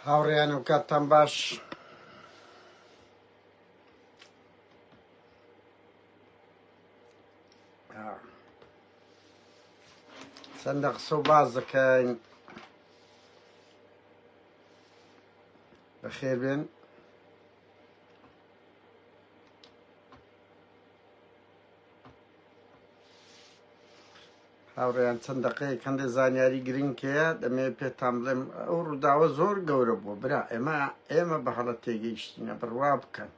هاوڕێیان و کاتتان باش چەندە قسە و باز دەکەین بەخێر بێن هاوڕێیان چەند دەقەیەک هەندێ زانیاری گرنگ هەیە دەمەوێت پێتان بڵێم ئەو ڕووداوە زۆر گەورە بووە برا ئێمە ئێمە بە هەڵە تێگەیشتینە بڕوا بکەن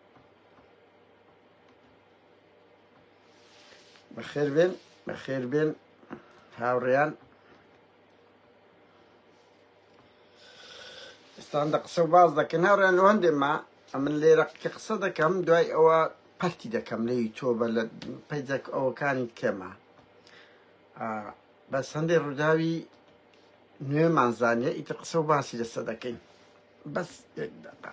بەخێر بێن بەخێر بێن هاوڕێیان ئێستان دە قسە و باز دەکەن هاوڕێیان لەو هەندێ ما ئەمن لێرە کە قسە دەکەم دوای ئەوە پەرتی دەکەم لە یوتۆبە لە پەیجەک ئەوەکانی کەمە بەس هەندێک ڕووداوی نوێمان زانیە ئیتر قسە و باسی لەسە دەکەین بەس یەک دەقە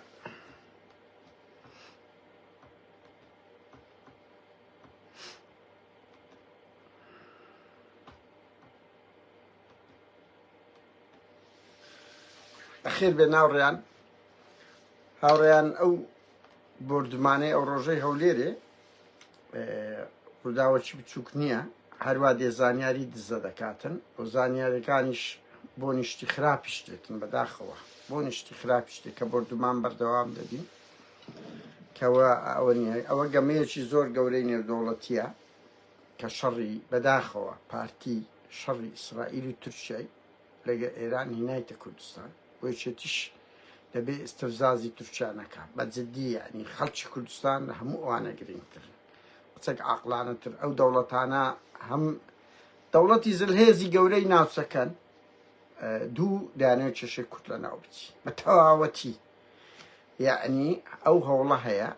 خێر بێ ناوڕیان هاوڕیان ئەو بردمانەی ئەو ڕۆژەی هەولێرێ ڕووداوەکی بچووک نییە هەروە دێ زانیاری دزە دەکاتن و زانیارەکانیش بۆ نیشتی خراپی شتێتن بەداخەوە بۆ نیشتی خراپی شتێک کە بردومان بەردەوام دەبین کەەوە ئەوە نیە ئەوە گەمەیەکی زۆر گەورەی نێودەوڵەتیە کە شەڕی بەداخەوە پارتی شەڕی ئیسرائیل و تورکیای لەگەر ئێران هینایتە کوردستان و یەکێتیش دەبێ ئستفزازی تورکیا نەکا بە جدی یعنی خەڵکی کوردستان لە هەموو ئەوانە گرنگتر قسەک عقلانەتر ئەو دەوڵەتانە هەم دەوڵەتی زلهێزی گەورەی ناوچەکەن دوو دانێ چێشێ کورد لە ناو بچی بە تەواوەتی یعنی ئەو هەوڵە هەیە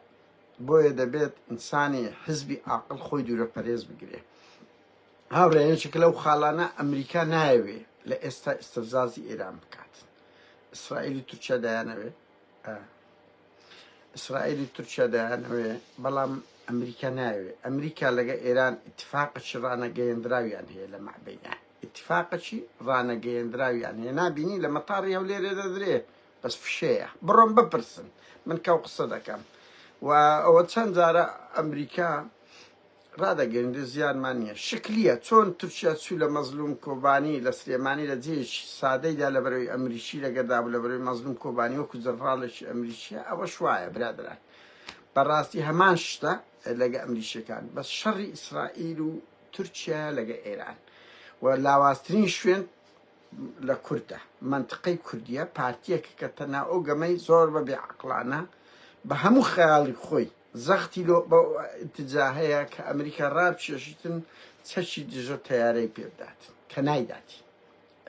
بۆیە دەبێت ئینسانی حزبی ئاقل خۆی دوورە پەرێز بگرێ هاوڕێنێکێک لەو خاڵانە ئەمریکا نایەوێ لە ئێستا ئستفزازی ئێران بکات ئیسرائیلی تورکیا دایانەوێ ئیسرائیلی تورکیا دایانەوێ بەڵام ئەمریکا ناوێ ئەمریکا لەگە ئێران اتفاقەی ڕانەگەیەندراویان هەیە لە مەعبینە اتفاقەی ڕانەگەیەندراویان هەیە نبینی لە مەتاڕی هەولێرێ دەدرێ بەس فشەیە بڕۆن بپرسن من کەو قسە دەکەم و ئەوە چەند جارە ئەمریکا ڕدەگەندێ زیانمان نییە شکلیە چۆن تورکیا چوو لە مەزلوم کۆبانی لە سلێمانی لە جێش سادەیدا لە بەرەوەی ئەمریکی لەگەدا بوو لە بەرەوەی مەزلوم کۆبانی وەکو جەنڕالێکی ئەمریکیە ئەوە شوایە برادران بەڕاستی هەمان شتە لەگە ئەمریکیەکان بەس شەڕی ئیسرائیل و تورکیا لەگە ئێران و لاوازترین شوێن لە کوردە مەنتقەی کوردیە پارتیەکە کە تەنها ئەو گەمەی زۆر بە بێ عەقڵانە بە هەموو خەیاڵی خۆی زەختی لۆ بە ئیتجا هەیە کە ئەمریکا ڕابکێشیتن چەکی دژە تەیارەی پێ بدات کە نایداتی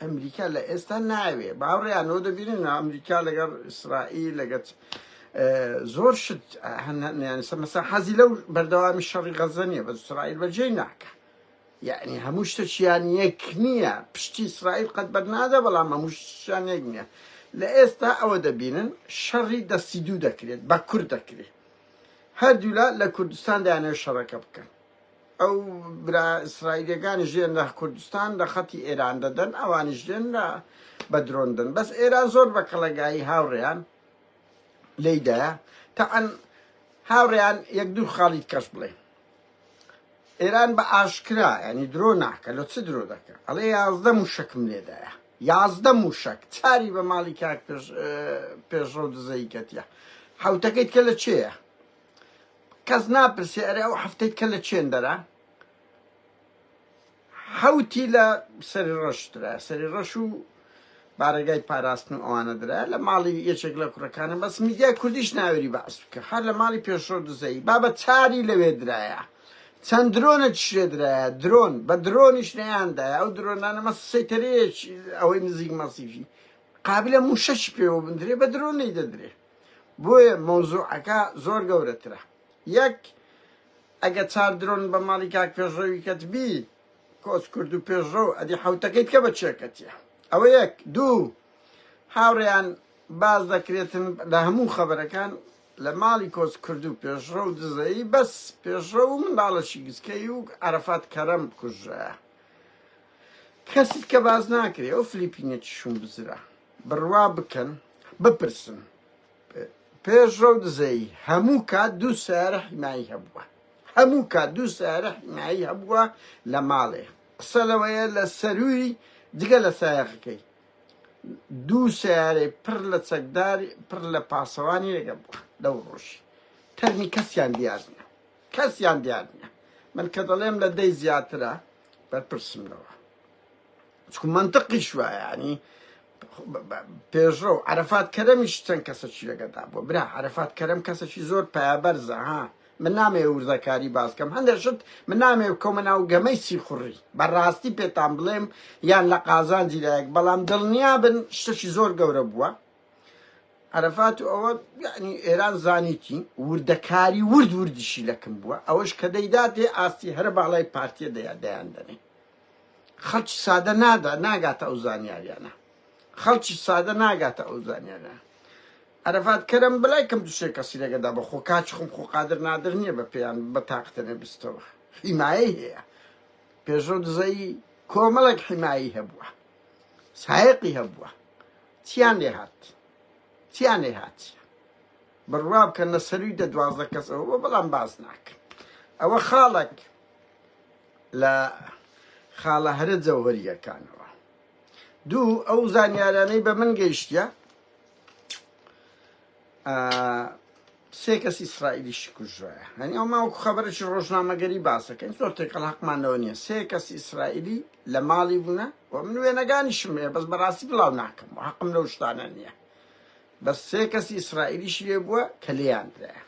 ئەمریکا لە ئێستا ناوێ باوڕیانەوە دەبینن ئەمریکا لەگەڵ ئیسرائیل لەگەت زۆر شت هەنیانسە مەسا حەزی لەو بەردەوامی شەڕی غەزە نیە بە ئیسرائیل بەجێ ناکە یەعنی هەموو شتەکیان یەک نیە پشتی ئیسرائیل قەت بەر نادە بەڵام هەموو شتیان یەک نیە لە ئێستا ئەوە دەبینن شەڕی دەستی دوو دەکرێت بە کورد دەکرێت هەردوولا لە کوردستان دایانەوە شەڕەکە بکەن ئەو برا ئیسرائیلەکانی ژێن لە کوردستان لە خەتی ئێران دەدەن ئەوانی ژێن لە بە درۆندن بەس ئێران زۆر بە کەڵەگایی هاوڕێیان لێدایە تەعەن هاوڕێیان یەک دوو خاڵیت کەش بڵێ ئێران بە ئاشکرا یعنی درۆ ناکە لە چ درۆ دەکە ئەڵێ یازدە موشەکم لێدایە یازدە موشەک چاری بە ماڵی کاک پێشڕەو دزەی کەتیە حوتەکەیت کە لە چێە کەس ناپرسێ ئەرێ ئەو هەفتەیت کە لە چێندەرە حەوتی لە سەری ڕەش درایە سەری ڕەش و بارەگای پاراستن و ئەوانە درایە لە ماڵی یەکێک لە کوڕەکانە بەس میدیای کوردیش ناوێری بەعس بکە هەر لە ماڵی پێشڕەو دزەی بابە چاری لەوێ درایە چەند درۆنە چشێ درایە درۆن بە درۆنیش نەیاندایە ئەو درۆنانە مە سەیتەرەیەک ئەوەی نزیک مەسیفی قابلە موشەش پێوە بندرێ بە درۆنەی دەدرێ بۆیە مەوزوعەکە زۆر گەورەترە یەک ئەگە چار درۆن بە ماڵی کاک پێشڕەوی کەت بی کۆچ کورد و پێشڕەو ئەدی حەوتەکەی بکە بە چێکەتیە ئەوە یەک دوو هاوڕێیان باز دەکرێتن لە هەموو خەبەرەکان لە ماڵی کۆچ کرد و پێشڕە و دزەیی بەس پێشڕە و منداڵەشی گچکەی و عرفات کەرەم کوژە کەسیت کە باز ناکرێ ئەو فلیپینێکی شوم بزرە بڕوا بکەن بپرسن پێشڕەو دزەیی هەموو کات دوو سەیارە حیمایی هەبووە هەموو کات دوو سەیارە حیمایی هەبووە لە ماڵێ قسە لەوەیە لە سەرووی جگە لە سایەقەکەی دوو سیارەی پڕ لە چەکدار پڕ لە پاسەوانی لەگە بووە لەو ڕۆژی تەرمی کەسیان دیارنە کەسیان دیارنە من کە دەڵێم لە دەی زیاترە بەرپرسم لەوە چکو منطقیش وایانی پێشڕەو عەرەفات کەرەمیش چەند کەسەکی لەگەدا بووە برا عەرەفات کەرەم کەسەکی زۆر پایابەرزە ها من نامێ وردەکاری باسکەم هەندێک شت من نامێ بکەمە ناو گەمەی سیخوڕی بەڕاستی پێتان بڵێم یان لە قازانجی لایەک بەڵام دڵنیا بن شتەکی زۆر گەورە بووە عرفات و ئەوە یعنی ئێران زانیتی وردەکاری ورد وردیشی لەکم بووە ئەوەش کە دەیداتێ ئاستی هەر باڵای پارتیە دەیا دەیان دەنێ خەڵکی سادە نادا ناگاتە ئەو زانیاریانە خەڵکی سادە ناگاتە ئەو زانیانە عرفات کەرم بلای کەم دوشێ کەسی لەگەدا بە خۆ کاچ خم خۆ قادر نادر نییە بە پێیان بە تاقتەنێ بستەوە حیمایی هەیە پێشۆ دزەی کۆمەڵک حیمایی هەبووە سایقی هەبووە چیان لێ هات چیان لێ هاات بڕوا بکەن لە سەروی دە دوازدە کەسەوە بەڵام باز ناکەن ئەوە خاڵک لە خاڵە هەرە جەوهەرییەکانەوە. دوو، ئەو زانیارانەی بە من گەیشتە، سێ کەس ئیسرائیلیشی کوژرایە، هەنی ئەو ماوەکو خەبەرێکی ڕۆژنامەگەری باسەکەین زۆر تێکەڵ هەقمانەوە نییە، سێ کەس ئیسرائیلی لە ماڵی بوونە و من وێنەگانیشم هەیە بەس بەڕاستی بڵاو ناکەم و هەقم لەو شتانە نییە، بەس سێ کەسی ئیسرائیلیشی لێ بووە کە لێیان درایە.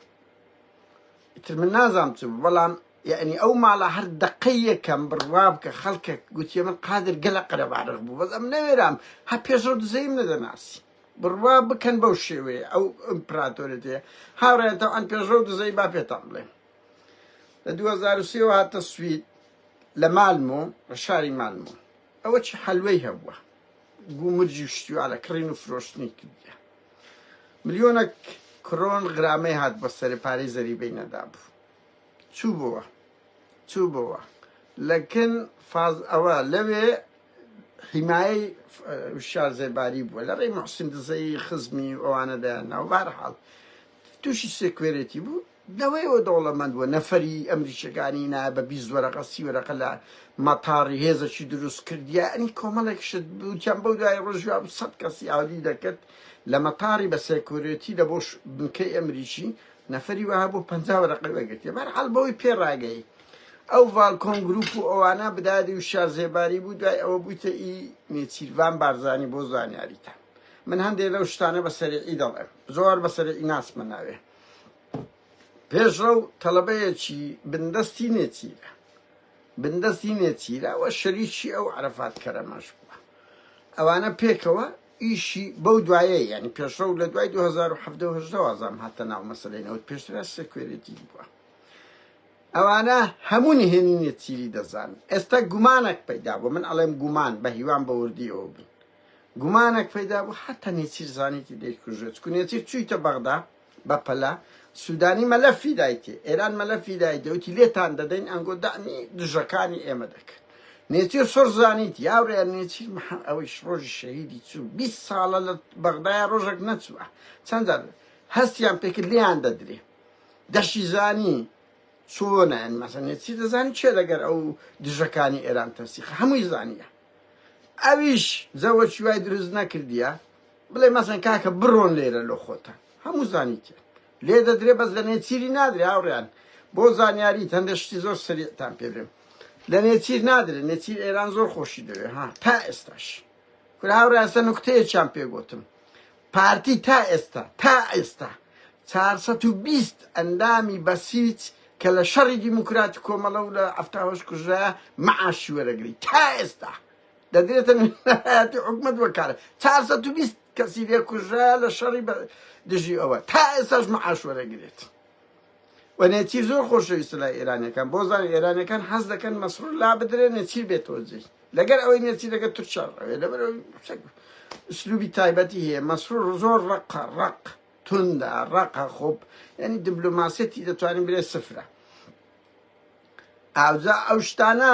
ئیتر من نازانم چ بوو، بەڵام یەعنی ئەو ماڵە هەر دەقەی یەکەم بڕوا بکە خەڵکەک گوتیە من قادر گەلە قەرەباڵغ بوو بەس ئەم نەوێرام هە پێشڕەو دزەیم نەدەناسی بڕوا بکەن بەو شێوەیە ئەو ئیمپراتۆرێتەیە هاوڕێن تەوان پێشڕەو دزەی با پێتان بڵێم لە 2023 هاتە سوید لە مالمۆ لە شاری مالمۆ ئەوە چی حەلوەی هەبووە گومرجی شتیوالە کڕین و فرۆشتنی کردە ملیۆنە کرۆن غرامەی هات بە سەر پارەی زەریبەی نەدابوو چوبوە چوبوە لەکن فاز ئەوە لەوێ حیمایەی وشار زێباری بووە لە ڕێی محسن دزەی خزمی ئەوانە دەیان ناو بارحاڵ تووشی سێکوێرێتی بوو دەوەیەوە دەوڵەمەند بووە نەفەری ئەمریکیەکانی نا بە بی وەرەقە سی وەرەقە لە مەتاڕی هێزەکی دروست کردیا ئەنی کۆمەڵێک شت بوتیان بەو دوای ڕۆژوا سەد کەسی ئاودی دەکرد لە مەتاری بە سێکورێتی دەبۆش بنکەی ئەمریکی نەفەری وەها بۆ پەنجا وەرەقەی وەرگرتیە بەرحاڵ بەوەی پێ ڕاگەی ئەو ڤالکۆن گروپ و ئەوانە بدادی و شار زێباری بوو دوای ئەوە بوویتە ئی نێچیرڤان بارزانی بۆ زانیاریتە من هەندێک لەو شتانە بە سەرعی دەڵێم زۆر بە سەرعی ناسمە ناوێ پێشڕە و تەڵەبەیەکی بندەستی نێچیرە بندەستی نێچیرە و شەریکی ئەو عرفات کەرەمەش بووە ئەوانە پێکەوە ئیشی بەو دوایە یانی پێشڕەو لە دوای دوو هەزار و حەڤدە و هەژدە وازام هاتە ناو مەسەلەی نەوت پێشترا سێکوێرێتی بووە ئەوانە هەموو نهێنینە چیری دەزان ئێستا گومانێک پەیدا بوو من ئەڵێم گومان بە هیوان بە وردیەوە بوو گومانێک پەیدا بوو حتا نێچیر زانیتی دەیکوژێت کو نێچیر چوویتە بەغدا بەپەلە سودانی مەلەفی دایتی ئێران مەلەفی دای دەوتی لێتان دەدەین ئەنگۆ دەعمی دژەکانی ئێمە دەکەن نێچیر سۆر زانیت یاورێ نێچیر محەم ئەوەیش ڕۆژی شەهیدی چوو 20 ساڵە لە بەغدایە ڕۆژێک نەچووە چەند جار هەستیان پێکرد لێیان دەدرێ دەشی زانی چۆنیان مەسە نێچیر دەزانی چێ لەگەر ئەو دژەکانی ئێران تەسیق هەمووی زانیە ئەویش زەوەچوای دروست نەکردیە بڵێ مەزن کاکە بڕۆن لێرە لۆ خۆتان هەموو زانیتێن لێ دەدرێ بەس لە نێچیری نادرێ هاوڕیان بۆ زانیاری هەندە شتی زۆر سریعتان پێ بێم لە نێچیر نادرێ نێچیر ئێران زۆر خۆشی دەوێ ها تا ئێستاش کورە هاوڕاستە نوکتەیەکیان پێگوتم پارتی تا ئێستا تا ئێستا 420 ئەندامی بەسیج کە لە شەڕی دیموکراتی کۆمەڵە و لە ئەفتاهۆش کوژرا مەعاشی وەرەگری تا ئێستا دەدرێتە نوێنەرایەتی حکومەت وەک کارە چار سەد و بیست کەسی لێ کوژرا لە شەڕی بە دژی ئەوە تا ئێساش معاش وەرەگرێت و نێچیر زۆر خۆشەویستە لای ئێرانەکان بۆ زان ئێرانەکان حەز دەکەن مەسرور لا بدرێ نێچیر بێتەوە جێ لەگەر ئەوەی نێچیر لەگە تورکیا ڕەوێ لەبەر ئەوەی چەک سلوبی تایبەتی هەیە مەسرور زۆر ڕق ڕق توندا ڕقە خۆب یعنی دیبلۆماسیەتی دەتوانین برێ سفرە ئاوجا ئەو شتانە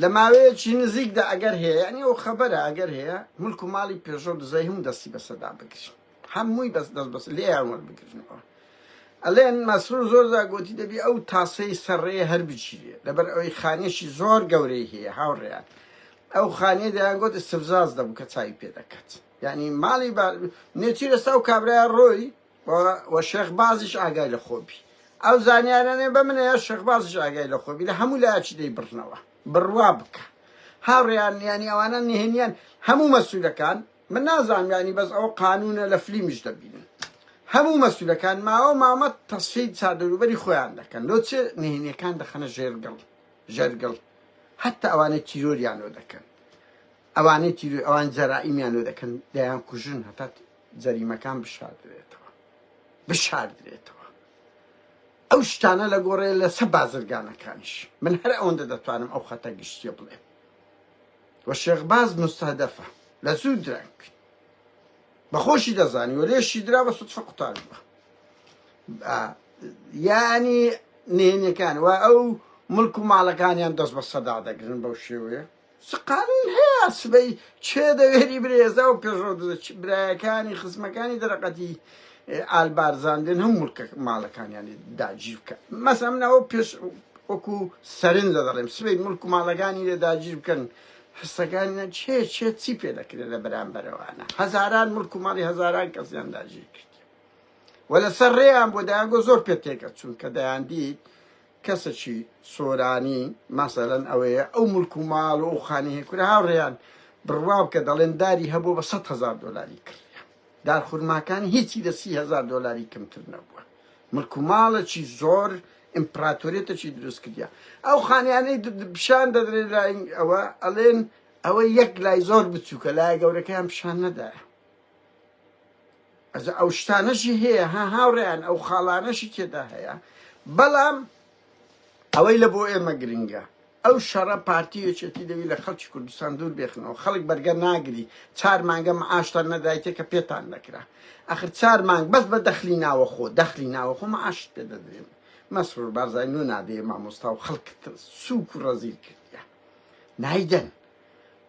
لە ماوەیەکی نزیکدا ئەگەر هەیە یانی ئەو خەبەرە ئەگەر هەیە ملک و ماڵی پێژۆ دزەی هەموو دەستی بەسەدا بگرن هەمووی بەس دەست بەس لێیان وەربگرنەوە ئەلێن مەسرور زۆر زاگۆتی دەبی ئەو تاسەی سەرڕێ هەر بچیرێ لەبەر ئەوەی خانێکی زۆر گەورەی هەیە هاوڕێیان ئەو خانێ دەیان گوت استفزاز دەبوو کە چاوی پێ دەکات یعنی ماڵی نێچیر ئێستا و کابرای ڕۆی و شێخ بازیش ئاگای لە خۆ بی ئەو زانیارانەی بە منە یا شێخ بازیش ئاگای لە خۆ بی لە هەموو لایەکی دەی بڕنەوە بڕوا بکە هاوڕێیان یانی ئەوانە نهێنیان هەموو مەسوولەکان من نازانم یانی بەس ئەو قانونە لە فلیمیش دەبینن هەموو مەسوولەکان ماوە مامە تەسفی چادەروبەری خۆیان دەکەن لۆ چێ نهێنیەکان دەخەنە ژێرگەڵ ژەرگەڵ هەتا ئەوانەی تیرۆریانۆ دەکەن ئەوانەی تیرۆ ئەوان جەرائیمیانۆ دەکەن دەیان کوژن هەتا جەریمەکان بشاردرێتەوە بشاردرێتەوە ئەو شتانە لە گۆڕێ لەسە بازرگانەکانیش من هەر ئەوەندە دەتوانم ئەو خەتە گشتیە بڵێ وە شێخباز مستهدەفە لە زوو درەنگ بەخۆشی دەزانی و لێشی درا بە سوتفە قوتار بووە یانی نهێنەکان و ئەو ملک و ماڵەکانیان دەست بە سەدا دەگرن بەو شێوەیە چ قانون هەیە سبەی کێ دەوێری برێزا و پێشڕەو دزە چ برایەکانی خزمەکانی دەرەقەتی ئال بارزان بێن هەم ملکە ماڵەکانیانی داگیر بکە مەسە من ئەو پێش وەکو سەرنجە دەڵێم سبەی ملک و ماڵەکانی لێ داگیر بکەن حسەکانیان چێ چێ چی پێ دەکرێت لە بەرامبەرەوانە هەزاران ملک و ماڵی هەزاران کەسیان داگیر کرد و لەسەر ڕێیان بۆ دایانگۆ زۆر پێ تێکە چونکە دەیان دیت کەسەکی سۆرانی مەسەلەن ئەوەیە ئەو ملک و ماڵ و ئەو خانەی هەیە کورە هاوڕێیان بڕوا بکە دەڵێن داری هەبووە بە سەد هەزار دۆلاری کڕیە دار خورماکان هیچی لە سی هەزار دۆلاری کەمتر نەبووە ملک و ماڵەکی زۆر ئیمپراتۆریەتەکی دروست کردە ئەو خانیانەی پیشان دەدرێت لای ئەوە ئەڵێن ئەوە یەک لای زۆر بچووکە لای گەورەکەیان پیشان نەدایە ئەجا ئەو شتانەشی هەیە ها هاوڕێیان ئەو خاڵانەشی تێدا هەیە بەڵام ئەوەی لە بۆ ئێمە گرنگە ئەو شەڕە پارتی یەکێتی دەوی لە خەڵکی کوردستان دوور بێخنەوە خەڵک بەرگە ناگری چار مانگە معاشتان نەدایتێ کە پێتان دەکرا ئەخر چار مانگ بەس بە دەخلی ناوە خۆ دەخلی ناوە خۆ معاشت پێ دەدرێن مەسرور بارزای نو نادێ مامۆستا و خەڵک سوک و ڕەزیل کردە نایدەن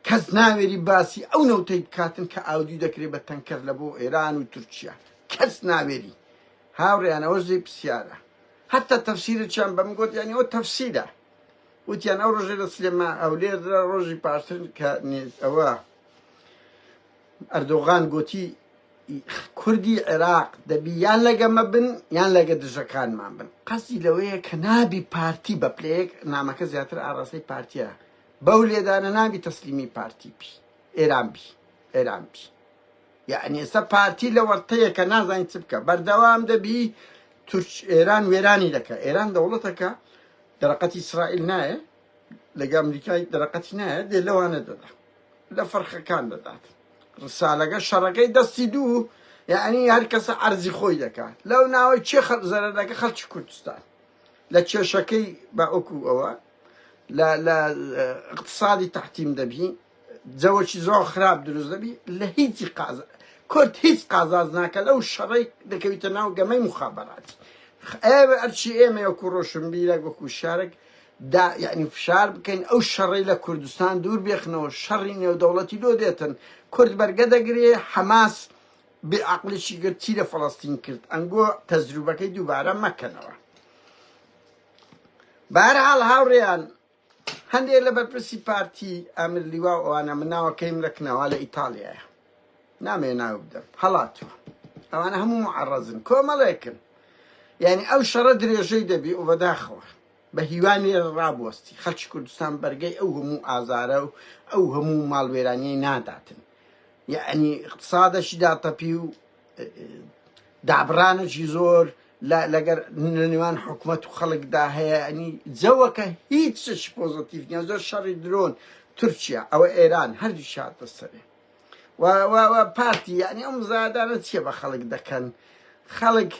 کەس ناوێری باسی ئەو نەوتەی بکاتن کە ئاودیو دەکرێ بە تەنکەر لە بۆ ئێران و تورکیا کەس ناوێری هاوڕێیان ئەوە زەی پسیارە هەتا تەفسیرەچیان بەم گوت یانی ئەو تەفسیرە وتیان ئەو ڕۆژێ لە سلێما ئەولێر ڕۆژی پاشتر کە ئەوە ئەردۆغان گوتی کوردی عێراق دەبی یان لەگەمە بن یان لەگە دژەکانمان بن قەسی لەوەیە کە نابی پارتی بە پلەیەک نامەکە زیاتر ئاراستەی پارتیە بەو لێدانە نابی تەسلیمی پارتی بی ئێران بی ئێران بی یعنی ئێستا پارتی لە وەرتەیەکە نازانین چ بکە بەردەوام دەبی تورک ئێران وێرانی دەکە ئێران دەوڵەتەکە دەرەقەتی ئیسرائیل نایە لەگە ئەمریکای دەرەقەتی نایە دێ لەوانە دەدا لە فەرخەکان دەدات ڕسالەکە شەڕەکەی دەستی دوو یعنی هەر کەسە ئەرزی خۆی دەکات لەو ناوەی چێ خەڵ زەرەرەکە خەڵکی کوردستان لە کێشەکەی بە ئۆکو ئەوە لە لە اقتصادی تحتیم دەبی جەوەکی زۆر خراپ دروست دەبی لە هیچی قاز کورد هیچ قازاز ناکە لەو شەڕی دەکەویتە ناو گەمەی مخابراتی ئێوە ئەرچی ئێمە وەکو ڕۆشن بیرە وەکو شارێک دا یعنی فشار بکەین ئەو شەڕی لە کوردستان دوور بێخنەوە شەڕی نێودەوڵەتی لۆ دێتن کورد بەرگە دەگرێ حەماس بێعقلشی گرتی لە فلستین کرد ئەنگۆ تەزروبەکەی دووبارە مەکەنەوە بەهەرحاڵ هاوڕێیان هەندێک لە بەرپرسی پارتی ئامر لیوا و ئەوانە من ناوەکەیم لە کناوا لە ئیتالیایە نامێ ناو بدەم هەڵاتوە ئەوانە هەموو معڕەزن کۆمەڵێکن یعنی ئەو شەڕە درێژەی دەبی و بەداخەوە بە هیوانی ڕابوەستی خەلکی کوردستان بەرگەی ئەو هەموو ئازارە و ئەو هەموو ماڵوێرانیەی ناداتن یعنی اقتصادەشی داتەپی و دابڕانێکی زۆر لەگەر لەنێوان حکومەت و خەڵکدا هەیە ئەنی جەوەکە هیچ چشی پۆزتیف نیە زۆر شەڕی درۆن تورکیا ئەوە ئێران هەردوو شاتە سەرێ پارتی یعنی ئەم زادانە چیە بە خەڵک دەکەن خەڵک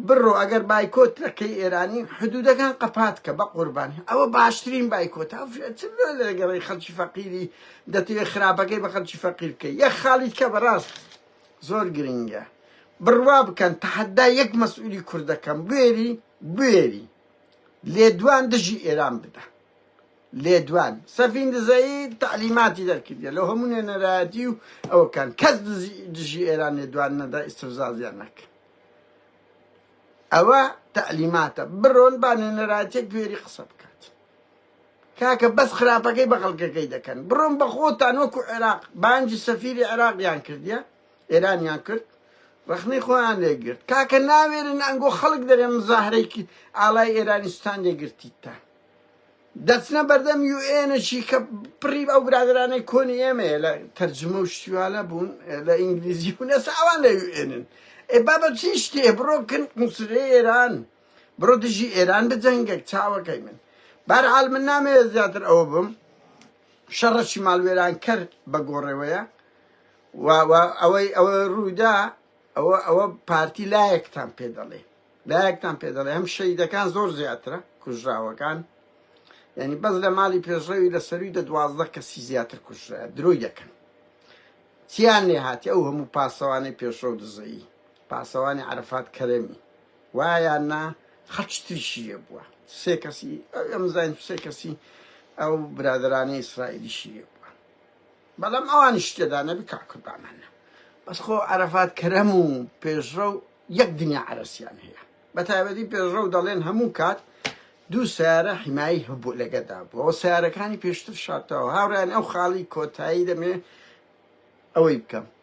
بڕۆ ئەگەر بایکۆت دەکەی ئێرانی حدودەکان قەپات کە بە قوربانی ئەوە باشترین بایکۆت لەگەڕی خەڵکی فەقیری دەتوێت خراپەکەی بە خەڵکی فەقیر بکەی یە خاڵی کە بەڕاست زۆر گرینگە بڕوا بکەن تەحەدا یەک مەسئولی کوردەکەم بوێری بوێری لێدوان دژی ئێران بدە لێدوان سەفین دزایی تعلیماتی دەرکردە لە هەموو نوێنەرایەتی و ئەوکان کەس دژی ئێران لێدوان نەدا ئیسرزازیان نەکە ئەوە تعلیماتە بڕۆن با نوێنەرایەتێک گوێری قسە بکە کاکە بەس خراپەکەی بە خەڵکەکەی دەکەن بڕۆن بە خۆتان وەکو عێراق بانگی سەفیری عێراقیان کردیە ئێرانیان کرد ڕخنەی خۆیان لێگرت کاکە ناوێرن ئەنگۆ خەڵک دەرێ مزاهرەیەکی ئالای ئێرانستان لێگرتیتە دەچنە بەردەم یو ئێنەشی کە پڕی ئەو برادرانەی کۆنی ئێمەیە لە تەرجمە و شتیوانە بوون لە ئینگلیزی بوون ئێستا ئەوان لە یو ئێنن ئێ بابە چی شتێ بڕۆکن قوسرێ ئێران بڕۆ دژی ئێران بجەنگێک چاوەکەی من بارعال من نامەوێت زیاتر ئەوە بم شەڕەشی ماڵوێران کەر بە گۆڕێوەیە ئەوەی ئەوە ڕوودا ئەوە ئەوە پارتی لایەکتان پێ دەڵێ لایەکتان پێ دەڵێ هەم شەیدەکان زۆر زیاترە کوژراوەکان یعنی بەس لە ماڵی پێشڕەوی لە سەروی دە دوازدە کەسی زیاتر کوژرا درۆی دەکەن چیان لێ هاتی ئەو هەموو پاسەوانەی پێشڕە و دزەیی پاسەوانی عرفات کەرەمی وایە یان نا هەر چتریشی لێ بووە سێ کەسی ئەو ئەمزین سێ کەسی ئەو برادرانە ئیسرائیلیشی لێ بووە بەڵام ئەوانی شتێدا نەبی کاکردامانە بەس خۆ عرفات کەرەم و پێشڕە و یەک دنیا عرسیان هەیە بە تایبەتی پێشڕە و دەڵێن هەموو کات دوو سیارە حیمایی هەبوو لەگەدا بووەوە سیارەکانی پێشتر شاتەوە هاوریان ئەو خاڵی کۆتایی دەمێ ئەوەی بکەم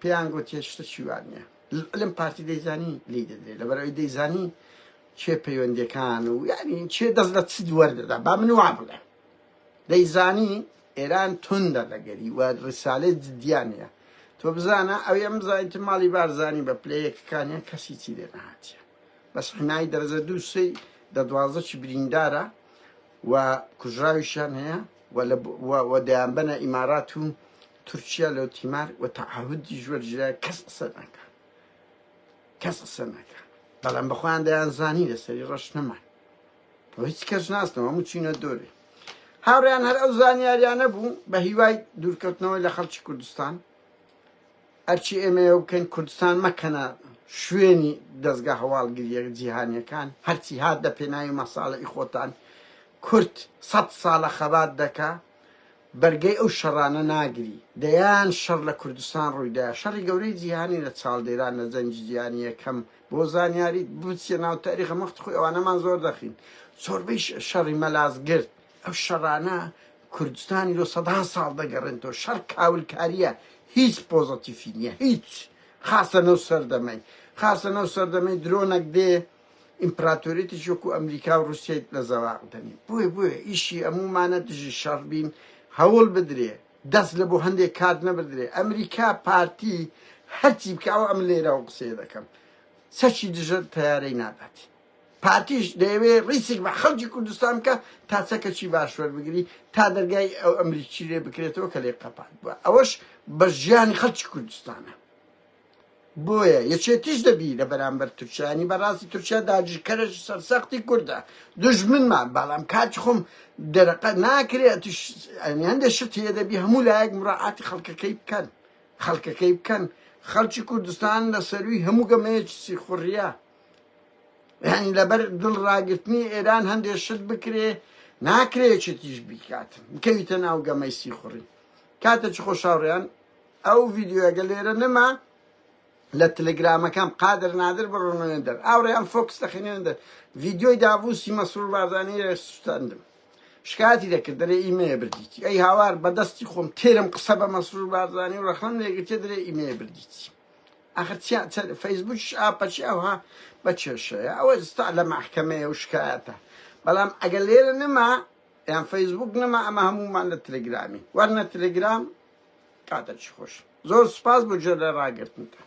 پێیان گۆتیە شتە چی وا نیە لەعلم پارتی دەیزانی لی دەدرێ لەبەر ئەوی دەیزانی چێ پەیوەندەکان و یعنی چێ دەست لە چ دوەر دەدا با من وا بڵێ دەیزانی ئێران توندە لەگەری و ڕسالێ جدیانە تۆ بزانە ئەو ئەم زانیت ماڵی بارزانانی بە پلەیەکەکانیان کەسی چی لێ نهاتە بەس حنایی دەرەجە دوو سێ دە دوازدە چی بریندارە و کوژراویشان هەیە و دەیان بەنە ئیمارات و تورکیا لۆ تیمار و تەعهودی ژوەر جیا کەس قسە ناکا کەس قسە ناکا بەڵام بەخۆیان دەیان زانی لەسەری ڕەش نەمان بۆ هیچ کەس ناسنەوە هەموو چینە دۆرێ هاوڕیان هەر ئەو زانیاریانە بوو بە هیوای دوورکەوتنەوەی لە خەڵکی کوردستان ئەرچی ئێمەیە بکەن کوردستان مەکەنە شوێنی دەستگا هەواڵگریە جیهانیەکان هەرچی هات دە پێناوی مەساڵی خۆتان کورد سە ساڵە خەبات دەکە بەرگەی ئەو شەڕانە ناگری. دەیان شەڕ لە کوردستان ڕوویدا، شەڕی گەورەی جیهانی لە چاڵدێران لە جەنگی جیهانی یەکەم، بۆ زانیاریت بچیە ناو تاریخە مەخت خۆی ئەوانەمان زۆر دەخین، زۆربەی شەڕی مەلازگرد، ئەو شەڕانە کوردستانی لۆ سەدان ساڵ دەگەڕێنتەوە، شەڕ کاولکاریە هیچ پۆزەتیفی نیە هیچ، خاصە نەو سەردەمەی، خاصە نەو سەردەمەی درۆنەک دێ، ئیمپراتۆریەتێکی وەکو ئەمریکا و ڕوسیای لە زەواق دەنێ بۆیە بۆیە ئیشی ئەمومانە دژی شەڕ بین هەوڵ بدرێ دەست لە بۆ هەندێک کات نەبدرێ ئەمریکا پارتی هەرچی بکە ئەو ئەم لێرە و قسێ دەکەم سەچی دژە تیارەی ناداتی پارتیش دەیەوێ ڕیسک بە خەڵکی کوردستان کە تا چەکەچی باشوەر بگری تا دەرگای ئەو ئەمریکی لێ بکرێتەوە کە لێ قەپات بووە ئەوەش بە ژیانی خەڵکی کوردستانە بۆیە یەکێتیش دەبی لە بەرامبەر تورکیا ینی بە ڕاستی تورکیا داگیرکەرێکی سەرسەختی کوردە دوژمنمان بەڵام کاتی خۆم دەرەقە ناکرێ ئەتیش ینی هەندێ شت هەیە دەبی هەموو لایەک مراعاتی خەڵکەکەی بکەن خەڵکەکەی بکەن خەڵکی کوردستان لە سەروی هەموو گەمەیەکی سیخوڕیە ینی لەبەر دڵ ڕاگرتنی ئێران هەندێ شت بکرێ ناکرێ یەکێتیش بیکات بکەویتە ناو گەمەی سیخوڕی کاتێکی خۆشاوڕیان ئەو ڤیدیۆیە گە لێرە نما لە تلگرامەکەم قادر نادر بڕۆنەوێن دەر ئاوڕیان فۆکس دەخینێن دەر ڤیدیۆی داڤوسی مەسرور بارزانی لە سوستاندم شکاتی دەکرد دەرێ ئیمەیە بردیتی ئەی هاوار بەدەستی خۆم تێرم قسە بە مەسرور بارزانی و ڕەخنم لێگرتێ دەرێ ئیمەیە بردیتی ئەخر فەیسبوکش ئاپەچی ئەوها بە کێشەیە ئەوە ستا لە مەحکەمەیە و شکایەتە بەڵام ئەگەر لێرە نما یان فەیسبوک نەما ئەمە هەموومان لە تلگرامین وەرنە تلگرام کاتەکی خۆش زۆر سوپاس بۆ گوێ لە راگرتنتان.